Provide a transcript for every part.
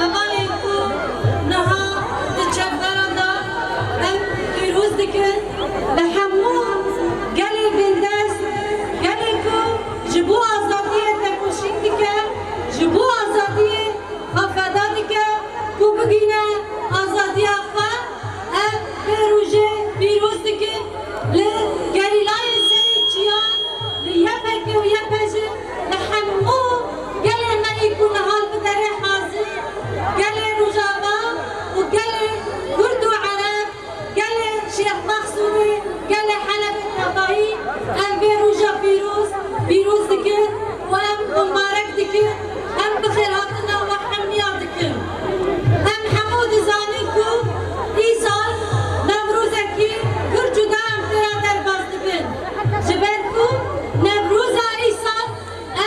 Hevalên ku niha di çekdaran de em pêroz dikin li hemû gelê bindest, gelê ku ji bo azadiyê tekoşîn dike, ji bo azadiyê xwe feda dike ku bigihîne azadiya xwe, em vê rojê pîroz dikin li gerîlayên serê çiyan, li YPG û YPJ. Li hemû gelê me yî ku niha li derê Hazê, gelê Rojava û gelê Kurd û Ereb, gelê Şêx Mexsûrê, gelê Helebê tevahî em vê roja pîroz pîroz dikin û em mubarek dikin, em bi xêrhatina we hemnîya dikin. Em hemû dizanin ku îsal Newrozekî pir cuda em tê re derbas dibin. Ji ber ku Newroza îsal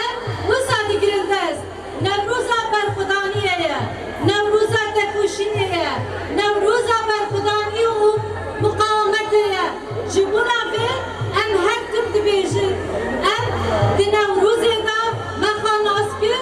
ev wisa digirin dest, Newroza berxwedaniyê ye, Newroza tekoşînê ye, Newroza berxwedanî û miqawametê ye. Ji bona vê em her tim dibêjin, Em di Newrozê de me xwe nas kir.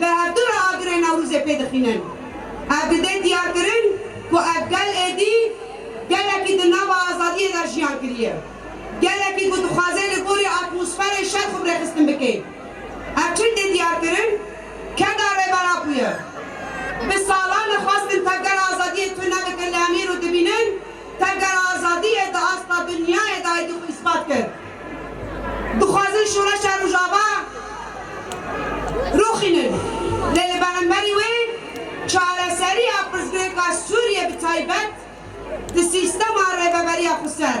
Bi hevdu re agirê Newrûzê pê dixînin. Ev dide diyarkirin ku ev gel êdî gelekî di nava azadiyê de jiyan kiriye. Gelekî ku dixwaze li gorî atmosferê şer xwe bi rêxistin bike. Ev çi dê diyarkirin? Keda Rêbera bûye. Bi salan dixwestin tevgera azadiyê tune bikin li Emîr û dibînin, Pengera azadiyê di asta dinyayê de aydî xwe îspat kir. Dixwazin şoreşa Rojava rûxînin, lê li beremberî wê çareseriya pirsgirêka Sûriyê bi taybet di sîstema rêveberiya xweser.